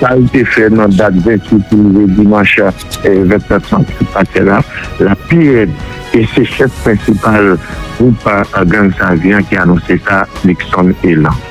Sa li te fè nan dat 28 pou rive dimanch 27 mas ki pase la, la pi rèd e se chèf prensipal gwoup gang Savi an ki anonse sa, Luckson Elan.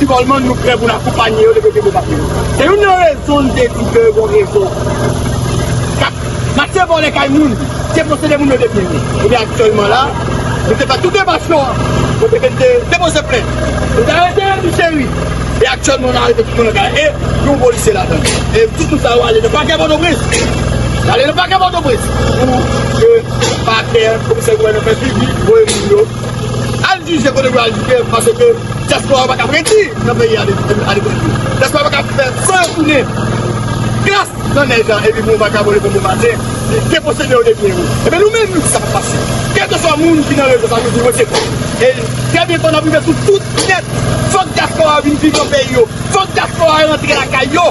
Si Goldman nou prè pou n akonpanye yo lè yo te vle pase. Se youn nan rezon n te di ke gon rezo k ap mache vòlè kay moun, deposede moun yo de byen yo. Ebyen aktyèlman la, nou te fè tout demach yo kote ke n te depoze plent. Nou te arete Remy Chéry e aktyèlman nou arete tout moun nan kay la e gen yon polisye ladan l. E tout moun sa yo ale nan pakè Pòtoprens. Yo ale nan pakè Pòtoprens pou ke pakè, komisè gouvènman fè swivi, voye moun yo. Al jije kote pou al jije paske diaspora yo pa kap redi nan peyi a depi diaspora yo pa kap fè san yo tounen gras nan nèj la epi pou yon vakabon leve bon maten li deposede yo depi ewo ebyen nou menm nou di sa pap pase kelkeswa moun ki nan rezo sa nou di nou se kont e trè byen fò nap rive sou tout nèt fòk diaspora yo vin viv nan peyi yo fòk diaspora yo rantre lakay yo.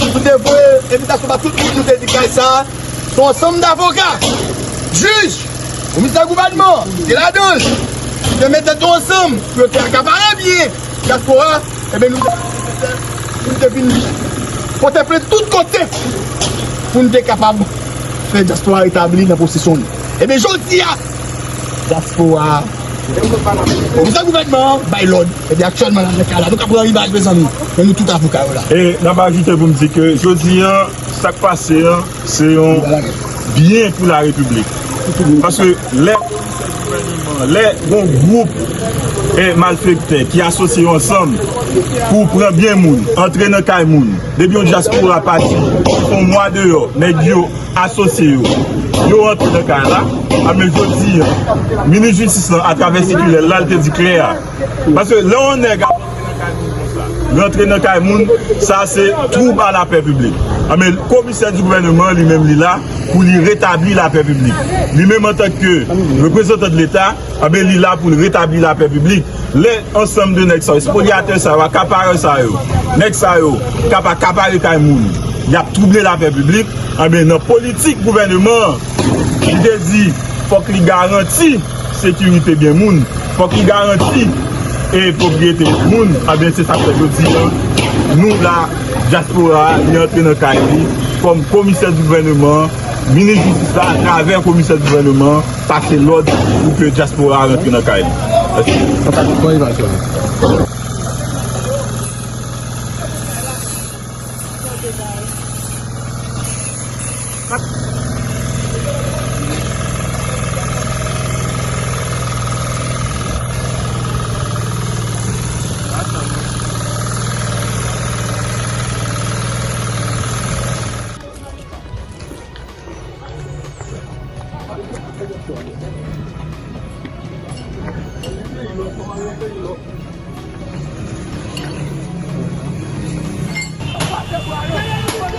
Nou te voye envitasyon ba tout moun nou te di kay sa a se yon ansanm davoka, jij, komisè gouvènman te ladan l, ki te met tèt yo ansanm pou yo te akapare byen dyaspora a, enben nou te santi nesesè pou nou te vin pote plent tout kote pou nou te kapab fè dyaspora a retabli nan posesyon li. Enben jodi a. Diaspora Pou sa gouvènman an bay lòd Ebyen aktyèlman la nan ka la Nou ka pran rivaj mezanmi Men nou tout avoka yo la. E n ap ajoute pou m di ke jodi an sa k pase an se yon byen pou la repiblik paske lè yon chèf gouvèneman an lè yon gwoup malfektè ki asosye yo ansanm pou pran byen moun antre nan kay moun depi yon dyaspora pati yon mwa deyò nèg yo Asosye yo. Yo rantre nan kay la. A men jodi an, minis jistis lan atravè sikilè l la, l te di klè a. Paske lè yon nèg ap rantre nan kay moun konsa, rantre nan kay moun, sa se twoub a lapè piblik. A men komisè di gouvèneman an li menm li la pou li retabli lapè piblik. Li menm antanke reprezantan de leta, a men li la pou l retabli lapè piblik. Lè ansanm de nèg sa yo, espolyatè sa yo, akaparè sa yo, nèg sa yo k ap akapare kay moun, y ap twouble lapè piblik, anben nan politik gouvèneman an, li te di fòk li garanti sekirite byen moun, fòk li garanti e pwopriyete moun, anben se sa k fè jodi an nou la, dyaspora a li antre nan kay li kòm komisè di gouvèneman an, minis jistis la atravè komisè di gouvèneman an. Pase lòd pou ke dyaspora a rantre nan kay li.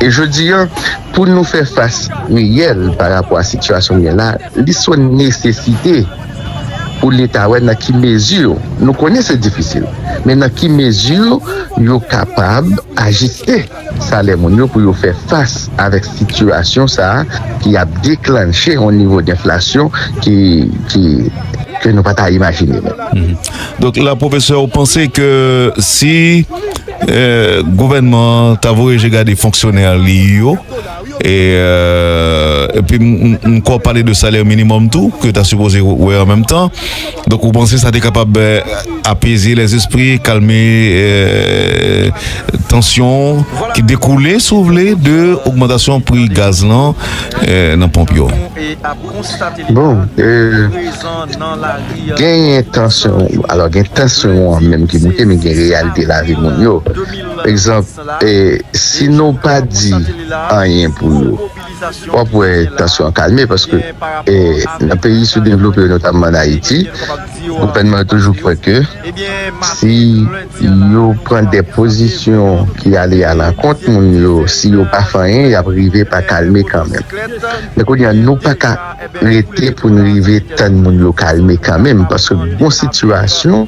E jodi an, pou nou fè fas reyèl pa rapò a sitiyasyon gen la, li sou nesesite pou Leta wè nan ki mezi, nou konnen se difisil, men nan ki mezi yo kapab ajiste. Salè moun yo pou yo fè fas avèk sitiyasyon sa a ki ap deklanche yon nivo denflasyon ke nou pa ta imajine menm. Donk la pwofesè ou panse ke si gouvènman an ta voye je gade fonksyonè li yo, Epi m kwè w pale de salè minimòm tou ke yo ta sipoze wè an menm tan. Donk ou panse sa te kapab apeze lèzespri, kalme tansyon ki dekoule si w vle de ogmantasyon pri gaz lan nan ponp yo? Bon, genyen tansyon, alò gen tansyon an menm ki moute men gen reyalite lavi moun yo. Egzanp, E si nou pa di anyen pou yo? W ap wè tansyon an kalme paske nan peyi soudevlope yo, notamman an Ayiti, gouvènman yo toujou kwè ke si yo pran de pozisyon ki ale alakont moun yo, si yo pa fè anyen, y ap rive pa kalme kanmenm. Men kounye a, nou pa ka rete pou n rive tann moun yo kalme kanmenm paske gon sitiyasyon.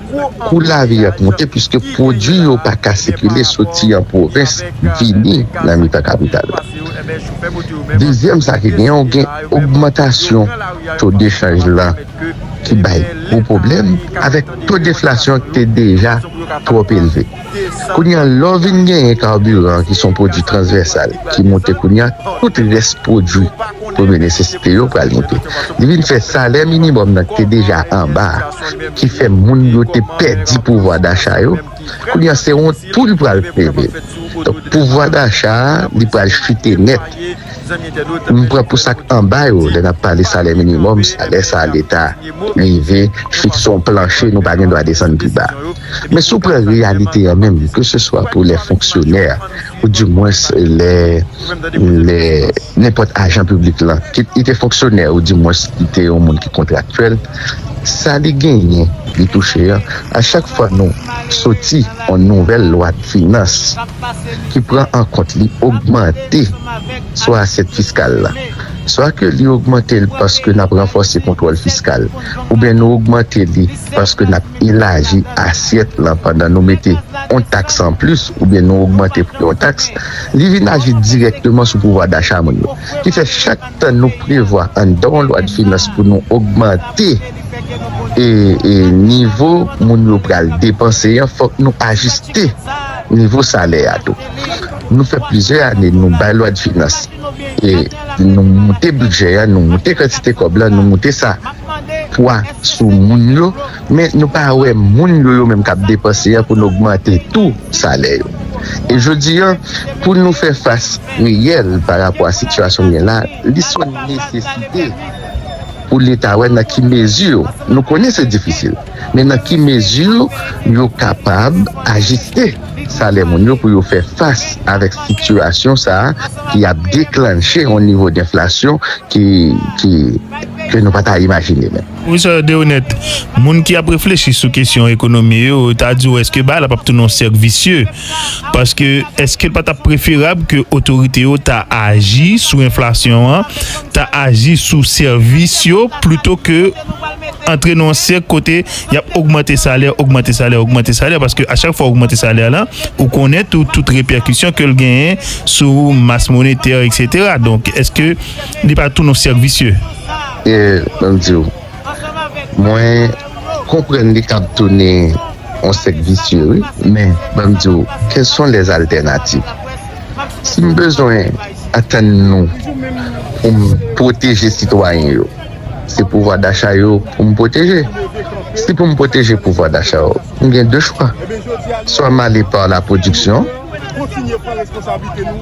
Kou lavi ap moute piske pwodui yo pa ka sikile soti an pwovens vini nan mitan kapital la. Dezyèm sa ki gen ou gen ogmantasyon to dechanj lan ki bay gwo pwoblèm avèk to deflasyon ki te deja twòp elve. Kounye a, lè w vin genyen kabiran ki se yon pwodui transvèsal ki monte kounye a, tout rès pwodui premye nesesite yo pral monte. Li vin fè salè minimòm nan ki te deja anba a, ki fè moun yo te pèdi pouvwa dacha yo, kounye a se wont pou li pral leve. Donk pouvwa dacha a li pral chite nèt. M pran pou sa k anba yo, lè n ap pale salè minimòm, salè sa a leta rive fikse yon planche nou pa gen dwa desann pi ba. Men si w pran reyalite an menm, keseswa pou lè fonksyonè a ou di mwens lè nenpòt ajan piblik lan, kit li te fonksyonè ou di mwens li te yon moun ki kontraktyèl, sa li genyen, li touche an, a chak fwa nou soti yon nouvèl lwa dfinans ki pran an kont li ogmante swa asyèt fiskal la, swa ke li ogmante l paske n ap ranfòse kontwòl fiskal oubyen nou ogmante li paske n ap elaji asyèt lan pandan nou mete yon taks anplis oubyen nou ogmante pri yon taks, li vin aji dirèkteman sou pouvwa dacha moun yo. Ki fè, chak tan nou prevwa anndan yon lwadfinans pou nou ogmante nivo moun yo pral depanse an, fòk nou ajiste nivo salè a tou. Nou fè plizyè ane nou bay lwadfinans. e nou moute bidjè a, nou moute kantite kòb la, nou moute sa pwa sou moun yo, men nou pa wè moun yo yo menm k ap depanse a pou n ogmante tou salè yo. E jodi a, pou nou fè fas reyèl pa rapò a sitiyasyon gen la, li sou nesesite pou Leta wè nan ki mezi nou konnen se difisil. men nan ki mezi yo kapab ajiste salè moun yo pou yo fè fas avèk sitiyasyon sa a ki ap deklanche yon nivo denflasyon ke nou pa ta imajine menm. Pwofesè Deronette, moun ki ap reflechi sou kesyon ekonomi yo ta di w èske bagay la p ap tounen yon sèk visye? Paske èske l pa t ap preferab ke otorite yo ta aji sou enflasyon an, ta aji sou sèvis yo plito ke antre nan yon sèk kote y ap ogmante salè, ogmante salè, ogmante salè, paske a chak fwa ou ogmante salè la, ou konnen tou tout repèkisyon ke l genyen sou mas monetè, eksetera. Donk, èske li pa tounen yon sèk visye? E, ban m di ou, mwen konprann li kab tounen yon sèk visye wi, men, ban m di ou, kèl son lè zaltènativ? Si m bezwen atann nou pou m pwoteje sitwayen yo. Se pouvwa dacha yo pou m pwoteje. Si pou m pwoteje pouvwa dacha yo, m gen de chwa. Swa m ale pa la pwodiksyon,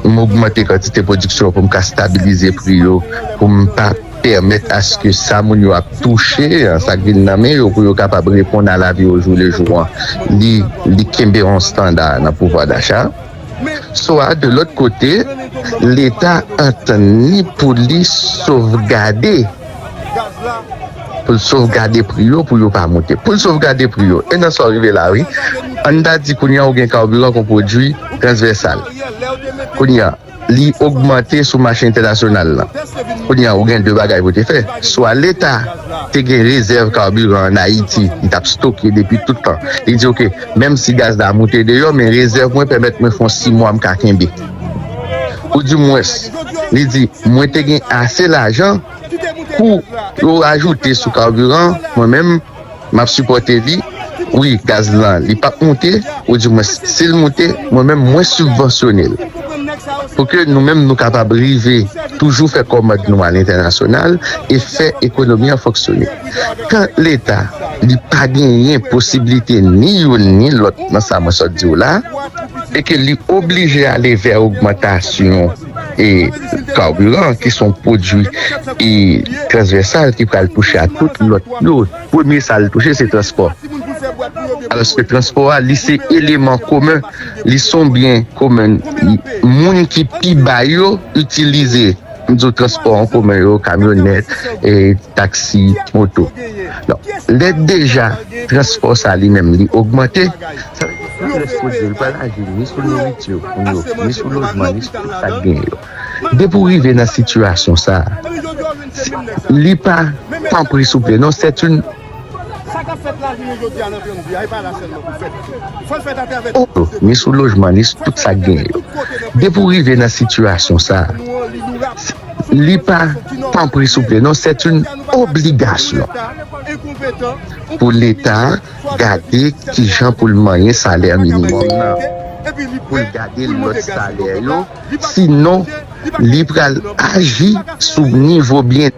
m ogmante kantite pwodiksyon an pou m ka stabilize pri yo, pou m pa pèmèt aske sa moun yo ap touche an, sa k vin nan men yo pou yo kapab reponn a lavi ojou lejou an, li kenbe yon standa nan pouvwa dacha. Swa de lòt kote, Leta antann li pou li sovgade pou l sovgade pri yo pou yo pa moute, pou l sovgade pri yo. E nan sa w rive la a wi. Ann ta di kounye a ou gen kabiran kon pwodui transvèsal. Kounye a, li ogmante sou mache entènasyonal la. Kounye a, ou gen de bagay pou w te fè. Swa Leta. Te gen rezèv carburant an Ayiti li tap stoke depi tout tan. Li di ok, menm si gaz la moute deyò men rezèv mwen pèmèt mwen fon 6 mwa mka kenbe. Ou di mwens, li di mwen te gen ase lajan pou yo ajoute sou carburant an, mwen menm map sipòte li wi gaz lan li pap moute ou di mwens sil moute mwen menm mwen sibvansyonel. pou ke nou menm nou kapab rive toujou fè kòmand nou alentènasyonal e fè ekonomi an fonksyone kan leta li pa genyen posiblite ni youn ni lòt nan sa mwen sòt diw la e ke li oblije ale vè ogmantasyon e kaburant ki son pwodwi e transvèsal ki pral touche a tout lòt yo. Premye sa l touche se transpò. Alòske transpò a li se eleman komen, li s on byen komen. Moun ki pi ba yo itilize m di w transpò an komen yo, kamyonèt, taksi, moto. Donk lè deja transpò sa li menm li ogmante, sa vle di plis pwodui yo li pral aji ni sou nouriti pou yo, ni sou lojman, ni sou tout sa k genyen yo. depi w rive nan sitiyasyon sa li pa tanpri souple non c'est une oh ni sou lojman ni sou tout sak genyen yo depi w rive nan sitiyasyon sa li pa tanpri souple non c'est une obligation pou leta gade kijan pou l manyen salè minimum nan pou l gade lòt salè yo. si non li pral aji sou nivo byen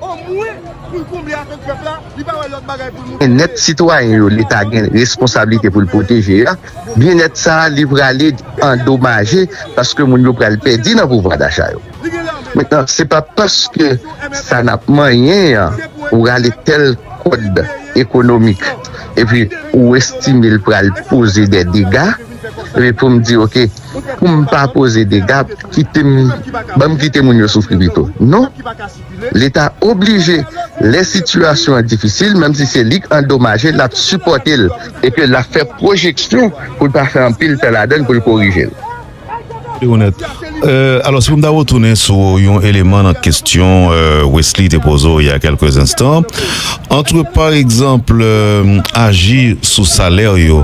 nèt sitwayen yo leta gen responsablite pou l pwoteje a, byen nèt sa li prale andomaje paske moun yo pral pèdi nan pouvwa dacha yo. Mentnan se pa paske sa n ap manyen an ou rale tèl kòd ekonomik epi ou estime l pral poze dè dega epi pou m di ok, poum pa koze dega kitem banm kite moun yo soufri pito non leta oblije lè sitiyasyon an difisil menm si se lik andomaje lap sipòtel epi lap fè pwojeksyon poul pa fè anpil tè ladann poul korijel. Li onèt. Alò, si pou m ta retounen sou yon eleman nan kesyon Wesly te poze w ya kèlke zenstan, antre pa egzanp aji sou salè yo,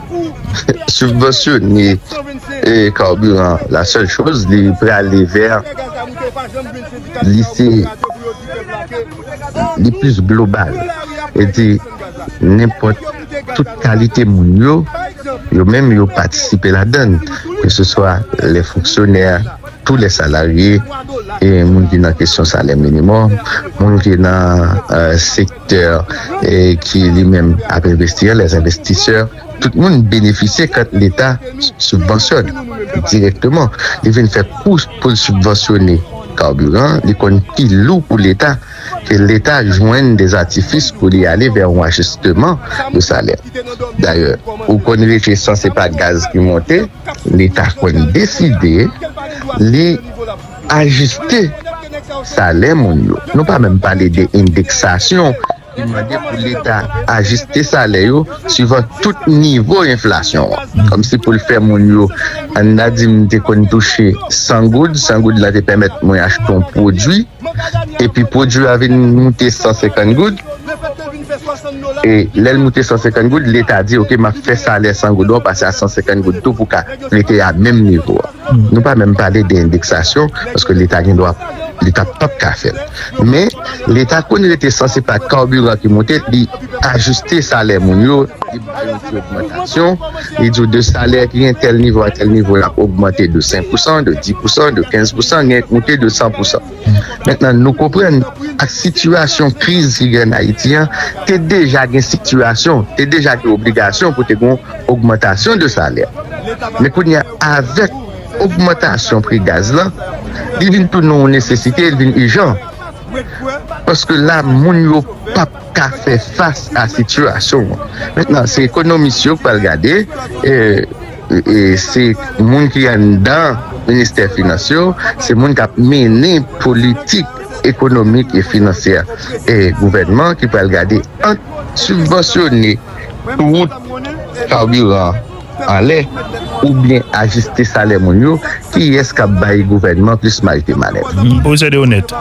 Subvensyone carburant la sèl choz li prale ver li se li plis global e di nenpot tout kalite moun yo yo menm yo patisipe ladann ke se swa le fonksyonè tou le salarye e moun ki nan kesyon salè minimum moun ki nan sek. Ter ki li menm ap envesti an, les investisseurs, tout moun benefisye kant leta sibvansyòn dirèkteman. Li vin fè kou pou l sibvansyone kaburan, li konn pi lou pou leta ke leta jwenn des artifices pou li ale vè yon ajisteman de salè. Dayè, ou konn rete san se pa gaz ki monte, leta konn deside li. Ajiste salè moun yo. Nou pa menm pale de endeksasyon ki mande pou Leta ajiste salè yo suivan tout nivo enflasyon an. Kòmsi pou l fè moun yo, ann a di m te konn touche 100 goud, 100 goud la te pèmèt mwen achte yon pwodui, epi pwodui a vin moute 150 goud, e lè l moute 150 goud, Leta di, ok, m ap fè salè 100 goud an pase a 150 goud tou pou ka rete a menm nivo a. Nou pa menm pale de endeksasyon paske leta gen dwa leta pap ka fèl men leta konn rete san se pa kabiran ki moute li ajiste salè moun yo li ba yon ti ogmantasyon li di w de salè ki gen tèl nivo a tèl nivo lap ogmante de 5 pousan de 10 pousan de 15 pousan gen k moute de 100 pousan. Mentnan nou konprann ak sitiyasyon kriz ki gen an Ayiti an, te deja gen sitiyasyon, te deja gen obligasyon pou te gen yon ogmantasyon de salè. Men kounye a avèk ogmantasyon pri gaz lan, li vin tounen yon nesesite, li vin ijan. Paske la moun yo p ap ka fè fas a sitiyasyon an. Mentnan se ekonomis yo k pral gade. Se moun ki anndan ministè finans yo, se moun k ap mennen politik ekonomik e finansyè gouvènman an ki pral gade ant sibvansyone wout, kabiran anlè oubyen ajiste salè moun yo, kiyès k ap bay gouvènman plis maj de manèv. Pwofesè Deroneth,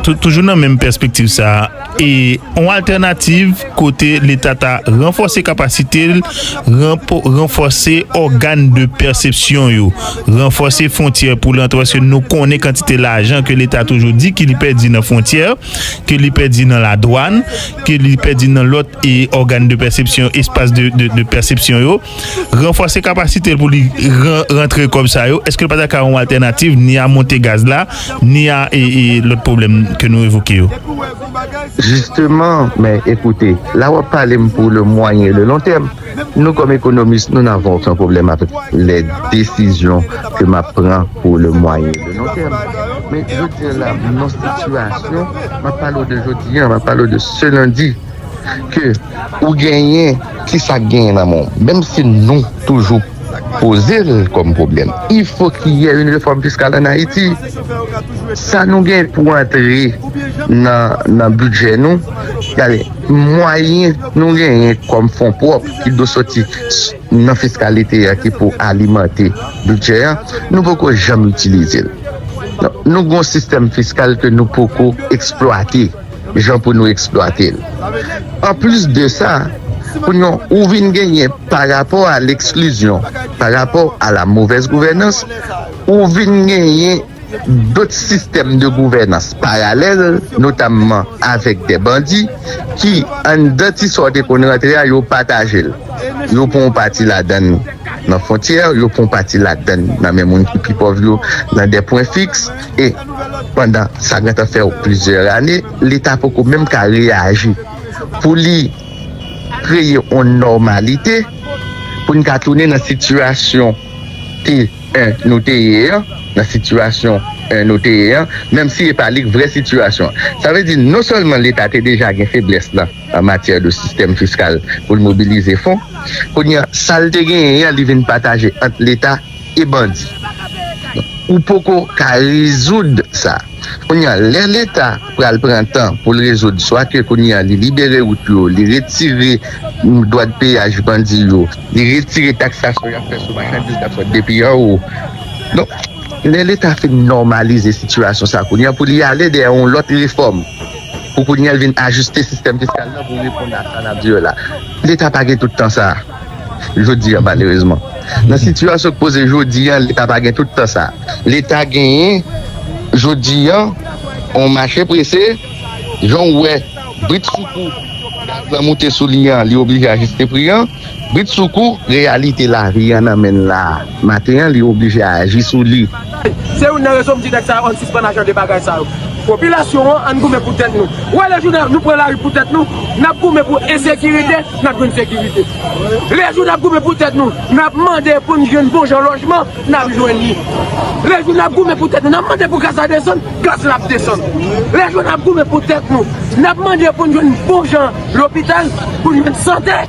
toujou nan menm pèspektiv sa a, e yon altènativ kote leta ta ranfòse kapasite l, ranfòse ògàn de pèsepsyon yo, ranfòse fwontyè pou l antre paske nou konnen kantite lajan ke leta toujou di ke li pèdi nan fwontyè, ke li pèdi nan ladwàn, ke li pèdi nan lòt ògàn de pèsepsyon, espas de pèsepsyon yo. ranfòse kapasite l pou li rantre kòb sa yo, èske l pa ta ka yon altènativ ni a monte gaz la, ni a lòt pwoblèm ke nou evoke yo? Jisteman, men ekoute, la w ap pale m pou le mwayen e le lon tèm. Nou kòm ekonomis, nou n ave oken pwoblèm avèk lè desizyon ke m ap pran pou le mwayen e le lon tèm. Men jodi a la, m nan sitiyasyon, m ap pale w de jodi a, m ap pale w de se lendi, ke ou genyen, Kisa k genyen nan men w? Menm si nou toujou poze l kòm pwoblèm. Ilfo ki yè yn refòm fiskal an Ayiti. Sa nou gen pou antre nan bidjè nou, gade mwayen nou genyen kòm fon pwòp ki dwe soti nan fiskalite a ki pou alimante bidjè a, nou poko janm itilize l. Nou gen yon sistèm fiskal ke nou poko eksplwate. jan pou nou eksplwate l. Anplis de sa, pou yon ou vin genyen pa rapò a leksklizyon, pa rapò a la movèz gouvènans, ou vin genyen dot sistèm de gouvènans paralèl, notamman avèk dè bandi ki anndan ti sa w te konn rantre a, yo pataje l. Yo pran yon pati ladan l nan fontyè, yo pran yon pati ladan l nan men moun ki pi pòv yo nan dè pwen fiks. e pandan sa gentan fè plizyè ane leta poko menm ka reyaji pou li kreye yon nòmalite pou n ka tounen nan sitiyasyon ke nou te ye an, nan sitiyasyon nou te ye an, menm si e pa li vrè sitiyasyon an. Sa vle di non sèlman leta te deja gen feblès lan an matyè de sistèm fiskal pou l mobilize fon, kounye an sa l te genyen an li vin pataje ant leta. e bandi ou poko ka rezoud sa kounye a lè leta pral pran tan poul rezoud swa ke kounye a li libere wout yo li retire dwat peyaj bandi yo li retire taksasyon yap fè sou machandiz kap sot depi anwo donk lè leta fin nòmalize sitiyasyon sa kounye a pou li ale dèyè yon lòt refòm pou kounye a li vin ajiste sistèm fiskal la pou reponn a sa nap di yo la leta pa gen tout tan sa. Jodi a, malerezman, nan sitiyasyon k poze jodi a, Leta pa gen tout tan sa. Leta genyen jodi a yon mache prese, jan w wè britsoukou gaz la moute sou li a, li oblije ajiste pri a, britsoukou reyalite lavi a nan men l la a maten an, li oblije aji sou li. Se youn nan rezon m di nèg sa yo ann sispann ak jan de bagay sa yo. Popilasyon an, ann goumen pou tèt nou. Ou wè le jou nou pran lari pou tèt nou, nap goumen pou ensekirite, nap jwenn sekirite. Le jou nap goumen pou tèt nou, nap mande pou n jwenn bon jan lojman, nap jwenn li. Le jou nap goumen pou tèt nou, nap mande pou gaz la desann, gaz la ap desann. Le jou nap goumen pou tèt nou, nap mande pou n jwenn bon jan lopital, pou n jwenn sante.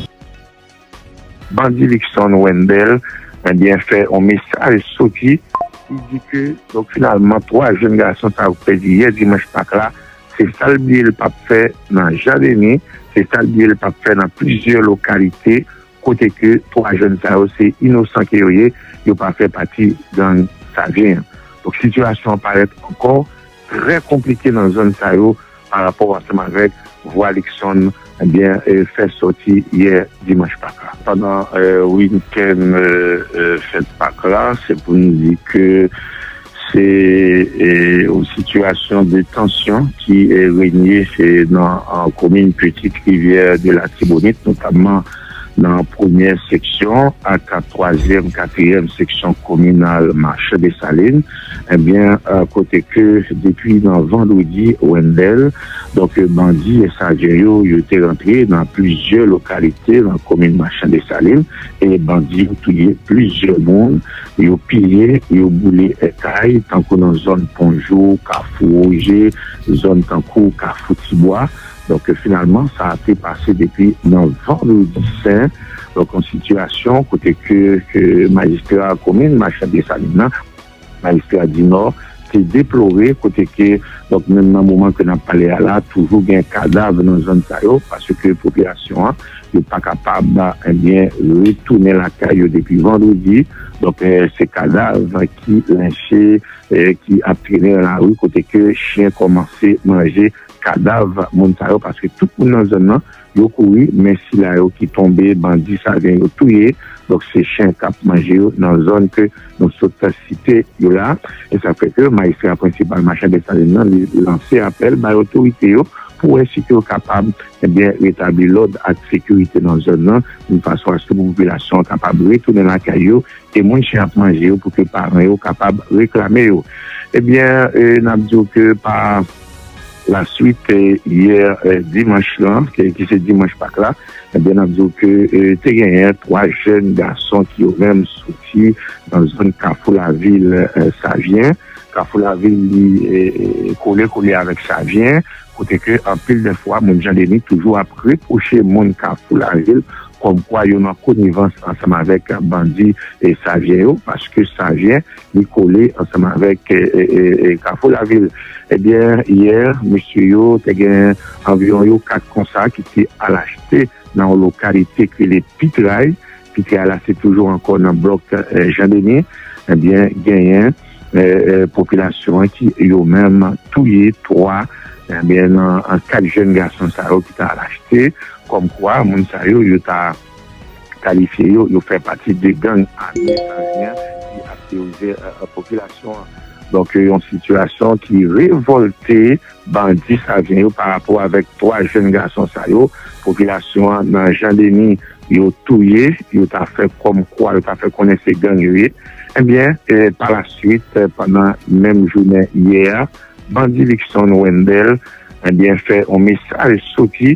Bandi Luckson Wendel ebyen fè on mesaj soti ki di ke donk finalman 3 jenn gason sa yo ki pèdi yè dimanch pak la se sa l bliye l pa p fè nan Jan Deni, se sa l bliye l pa p fè nan plizyè lokalite kote ke 3 jenn sa yo se inosan ke yo ye, yo pa fè pati gang Savyen an. Donk sitiyasyon an parèt ankò. trè konplike nan zòn sa yo pa rapò ansanm avèk vwa Luckson ebyen fè sòti yè dimanch pak la. Pandan weekend fèt pak la se pou nou di ke se yon sitiyasyon de tansyon ki renye nan komin Petite Rivière de l'Artibonite notamman. nan premyè seksyon ak twazyèm, katriyèm seksyon kominal Mache Desalin ebyen kote ke depi nan vandredi Wendel donk bandi ensajen yo yo te rantre nan plizyè lokalite nan komin Mache Desalin e bandi yo touye plizyè moun yo piye yo boule kay tankou nan zòn Pon Jou, Kafou Woje zòn tankou Kafou Tibwa. Donk finalman sa a te pase depi nan Vandredi Sen, donk yon sitiyasyon kote ke majistra komin Machan Desalin nan, majistra Dinò te deplore kote ke donk menm nan moman ke n ap pale a la toujou gen kadav nan zòn sa yo paske popilasyon an yo pa kapab ebyen retounen lakay yo depi Vandredi, donk se kadav ki lenche ki ap trene nan lari kote ke chyen kòmanse manje. kadav moun sa yo paske tout moun nan zòn nan yo kouri men sila yo ki tonbe bandi sa gen yo touye donk se chen kap manje yo nan zòn ke nou sot site yo la e sa fè ke majistra prensipal machan Desalin nan li lanse apèl bay otorite yo pou wè si ke yo kapab ebyen retabli lòd ak sekirite nan zòn nan yon fason aske pou popilasyon an kapab retounen lakay yo e moun chen ap manje yo pou ke paran yo kapab reklame yo ebyen nap diw ke pa. La swit yè dimanch la ki se dimanch pak la ebyen nap diw ke te genyen 3 jèn gason ki yo menm soti nan zòn kafou lavil savyen kafou lavil li kole kole avèk savyen kote ke anpil de fwa moun jandeni toujou ap repwoche moun kafou lavil kòmkwa yo nan konivans ansanm avèk bandi savyen yo paske savyen. Li kole ansanm avèk Kafou Lavil. Ebyen, yè, mesye yo te gen anviwon yo kat konsa ki te al achte nan yon lokalite ki rele Pitray. Pitray la se toujou ankò nan blòk Jan Deni. Ebyen, genyen popilasyon an ki yo menm touye 3 nan 4 jenn gason sa yo ki ta al achte. Kòmkwa, moun sa yo, yo ta. kalifye yo, yo fè pati de gang ame Savyen ki ap teworize popilasyon an. Donk yo yon sitiyasyon ki revolte bandi Savyen yo pa rapò avèk 3 jenn gason sa yo popilasyon an nan Jan Deni yo touye, yo ta fè kòm kwa yo ta fè konnen se gang yo ye. Ebyen pa la swit pandan menm jounen yè a bandi Luckson Wendel ebyen fè yon mesaj soti.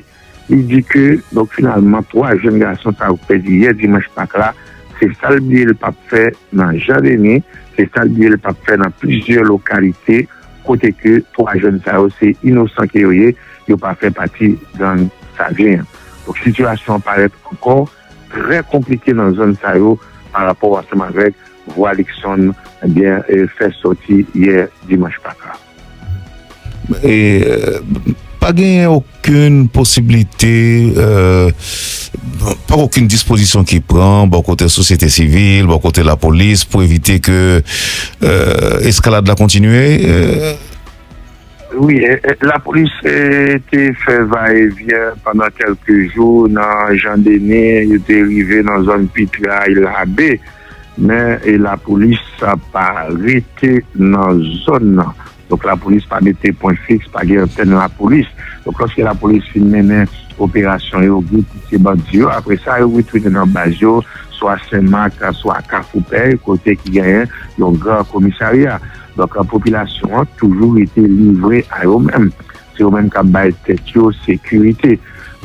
Li di ke donk finalman 3 jenn gason sa yo ki pèdi yè dimanch pak la, se sa l bliye l pa p fè nan Jan Deni, se sa l bliye l pa p fè nan plizyè lokalite kote ke 3 jenn sa yo se inosan ke yo ye, yo pa fè pati gang Savyen an. Donk sitiyasyon an parèt ankò trè konplike nan zòn sa yo pa rapò ansanm avèk vwa Liksonn fè sòti yè dimanch pak la. Pa genyen okenn posiblite, pa gen okenn dispozisyon ki pran bò kote sosyete sivil, bò kote lapolis pou evite ke eskalad la kontinye? Wi, lapolis te fè va e vyen pandan kèlke jou nan Jan Denis, yo te rive nan zòn Pitre a, Île Rabe. men lapolis pa rete nan zòn nan. Donk lapolis pa mete pwen fiks, pa gen antèn lapolis. Donk lòske lapolis fin mennen operasyon yo, vin touye bandi yo, apre sa yo retounen nan baz yo, swa Senmak, swa Kafoupèy, kote ki genyen yon gran komisarya. Donk popilasyon an toujou rete livre a yo menm. Se yo menm kap bay tèt yo sekirite.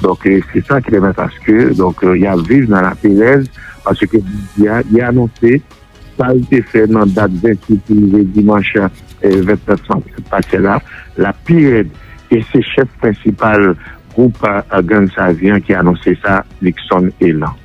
Donk se sa ki pèmèt aske donk yap viv nan laperèz paske jodi a li anonse sa li te fè nan dat 28 pou rive dimanch 29 sanp ki sot pase la lap pi rèd e se chèf prensipal gwoup gang Savyen an ki anonse sa Luckson Elan.